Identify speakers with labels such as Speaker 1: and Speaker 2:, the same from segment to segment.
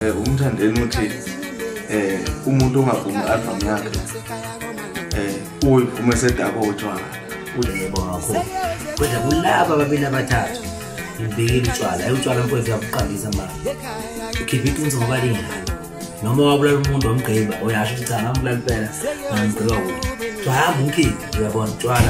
Speaker 1: eh, umthandeni uthi eh umuntu ongavumi album yakhe eh uyivuma esedako utshwala uyebo ngakho
Speaker 2: kodwa kulaba babili abathathu ngibikile utshwala ayutshwala mfowethu yakuqandisa manje ukhipha iqiniso ngoba lingaka noma wabulala umuntu wamgqiba uyasho ukuthi cha ngambulala impela ngamgqiba kuwo kuthiwa hamba umkhiphi uyabona utshwala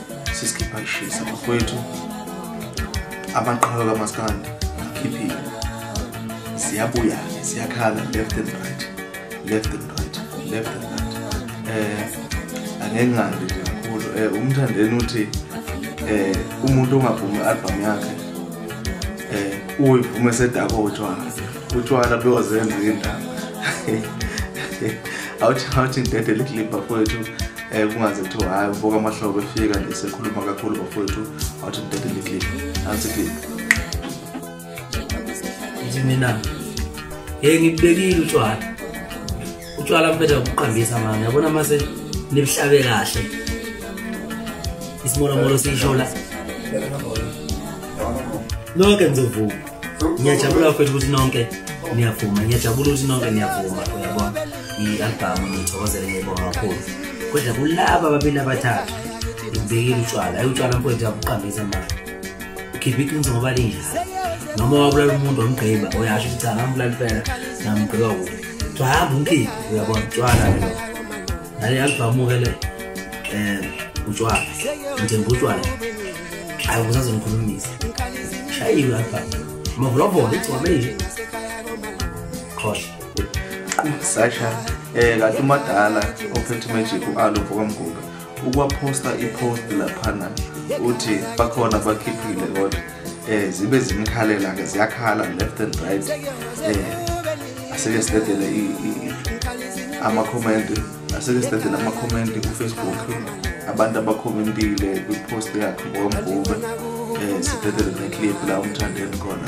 Speaker 1: sisikhipha kushisa bakwethu amaqhawe kamaskandi akhiphile siyabuya-ke siyakhala left and right left and right left and right eh angengandi nje kakhulu eh umthandeni uthi eh umuntu ongavumi i-album yakhe eh uyivuma esedakotshwana Uthwala bewazenza indaba. Awuthi awuthi intente liklipha kwethu eh kungaze kuthiwa hayi ubuka amahlobo efika nje sekhuluma kakhulu bafowethu awuthi intente liklipha. Nansi klipha. Ngithi
Speaker 2: mina hey ngibekile utshwala. Utshwala mpetha ukuqambisa manje yabona mase nibuhlabe kahle. Isimola molo siyishola. Loke ngizovuka. ngiyajabula bafethu ukuthi nonke niyavuma ngiyajabula ukuthi nonke niyavuma uyabona i-albhamu ngiyithokozele ngiyibonga kakhulu kodwa kulaba babili abathathu ngibekile utshwala ayi utshwala mfowethu yakuqambisa manje ukhipha iqiniso ngoba linjalo noma wabulala umuntu wamgqiba uyasho ukuthi cha ngambulala impela ngamgqiba kubi kuthiwa hamba umkhiphi uyabona utshwala nale album ke le eh utshwala ngithemba utshwala ayi kuzaze ngikhulumisa shayiwe album mavulavula igcwame nje khohle
Speaker 1: sasha eh kanti umadala ophethe magic u-alo vokamguga ukwaphosta ipost laphana uthi bakhona bakhiphile kodwa eh zibe zimkhalela ke ziyakhala left and right eh asike sidedele ama comment asike sidedele ama comment ku Facebook abantu abakhomentile kwi post yakhe ngomvume eh sidedele ne clip la umthandeni khona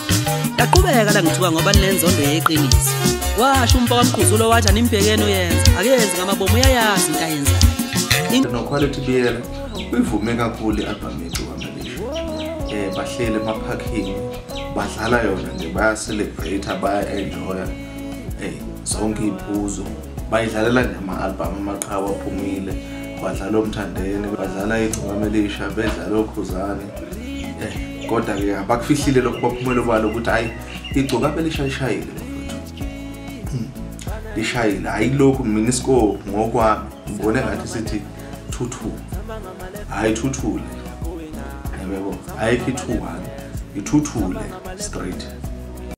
Speaker 3: Yaqhubeka la ngithuka ngoba ninenzondo yeqiniso. Washo umfo kamqhuzulo wathi animbhekeni uyenza, akenzi ngamabomu uyayazi into ayenzayo. Noquality Biyela
Speaker 1: uyivume kakhulu i-albhamu yethu kwaMalisha. Um eh, bahleli emaphakhini badlala yona nje bayacelebrate baya-enjoya um zonke iy'phuzo bayidlalela nje ama-albhamu amaqhawe aphumile badlala omthandeni badlala igcokama elisha bedlala okhuzane um kodwa ke abakufihlile lokho baphumele kwalo ukuthi hayi igcoka phela ishayishayile hmm. lishayile ayilokhu mina isko ngokwami ngibone ngathi sithi thuthu hayi thuthule yebo ayikho ithuwani ithuthule straight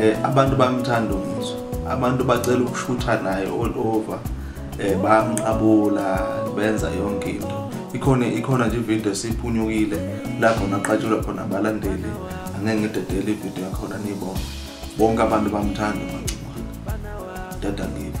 Speaker 1: eh abantu bamthanda umizwa abantu bacela ukushutha naye all over eh bamqabula benza yonke into ikhona ikhona nje ivideo esiphunyukile lapho naqatshelwa khona abalandeli angeke ngidedele ivideo yakhona nibona bonke abantu bamthanda umangcimane dada ngibe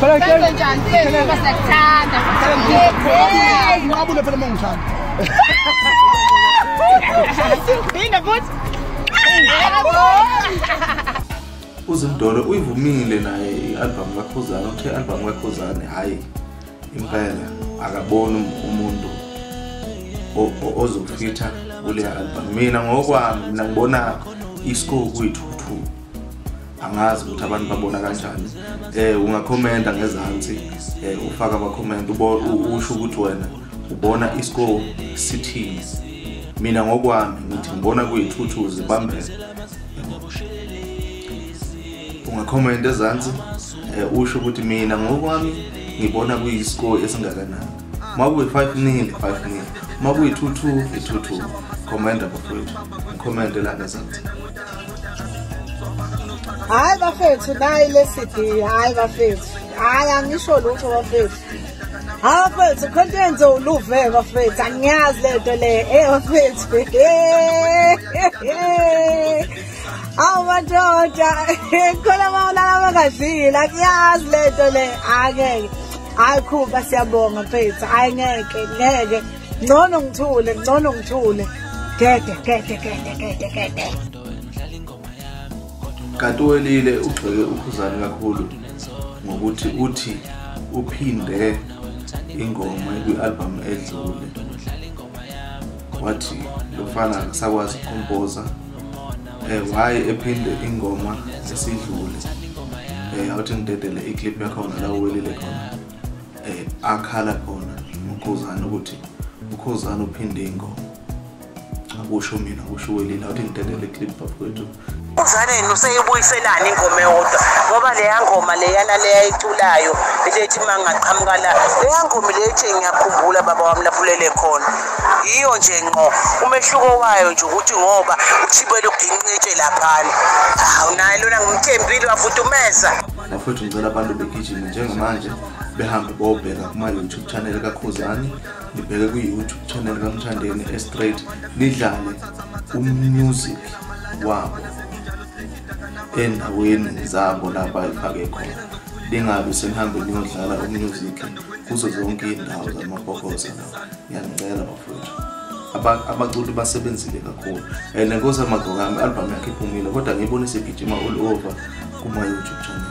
Speaker 4: Senze njani mfethu uma siyakuthanda. Ngabule phela uma ungithanda. Bina futhi.
Speaker 1: uzindolo uyivumile naye i-albhamu kakhuzane uthe i-albhamu kakhuzane hhayi impela akaboni um-, umuntu ozofitha kuleya albhamu mina ngokwami mina ngibona isikoku kwethu angazi ukuthi abantu babona kanjani eh ungakhomenta ngezansi eh ufaka ama comment usho ukuthi wena ubona iscore sithini mina ngokwami ngithi ngibona kuyithuthuzi bambele ungakhomenta ezansi eh usho ukuthi mina ngokwami ngibona kuyiscore esingakanani makuyi 5 nil 5 nil makuyi 2 2 i 2 2 comment abafowethu comment la ngezansi
Speaker 5: hayi bafethu nayi le cd hayi bafethu hayi angisho lutho bafethu hayi bafethu khona into yenze uluve bafethu angiyazi le nto le ey bafethu awu madoda khona bawulala bangadlile angiyazi le nto le angeke hayi khuba siyabonga mfethu hayi ngeke ngeke ngcono ngithule ngcono ngithule gede gede gede gede gede
Speaker 1: kanti welile ugxeke ukhuzani kakhulu ngokuthi uthi uphinde ingoma ekwi-albhamu edlule wathi lo mfana akasakwazi ukompoza um eh, waye ephinde ingoma esidlule um eh, awuthi ngidedele iclip yakhona la uwelile khona eh akhala khona ukhuzana ukuthi ukhuzana uphinde ingoma akusho mina kusho welile awuthi ngidedele clip bakwethu uzaneni
Speaker 6: useyibuyiselani ingoma eyodwa ngoba leya ngoma leyana leyayiculayo lethi uma ngingaqhamuka la leya ngoma lethi ngiyakhumbula baba wami lafulele khona yiyo nje ngqo umehluko wayo nje ukuthi ngoba uthibele uginqitshe laphana hawu naye lona ngimthembile wafuthi umeza bafowethu ngicela
Speaker 1: abantu begijime njengamanje behambe bobheka kuma YouTube channel kaKhuzani nibheke ku YouTube channel kaMthandeni estraight nidlale umusic wabo endaweni zabo lapha ifake khona lingabi senihambe niyodlala umusic kuzo zonke iy'ndawo zamabokoza ngiyanicela bafowethu abaculi basebenzile kakhulu and nkosi amagqokami i-albhamu yakhe iphumile kodwa ngiyibonise igijima all over kuma-youtube channel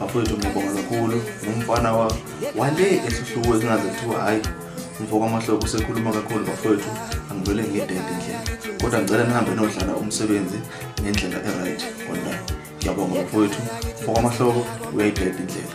Speaker 1: bafowethu ngiyabonga kakhulu ngumfana wa wale esihluku esingaze kuthiwa hhayi umfoko amahloko usekhuluma kakhulu bafowethu angivele ngidede ndlela kodwa ngicela nihambe nodlala umsebenzi ngendlela e-right kodwa ngiyabonga bafowethu umfoko amahloko uyayidede indlela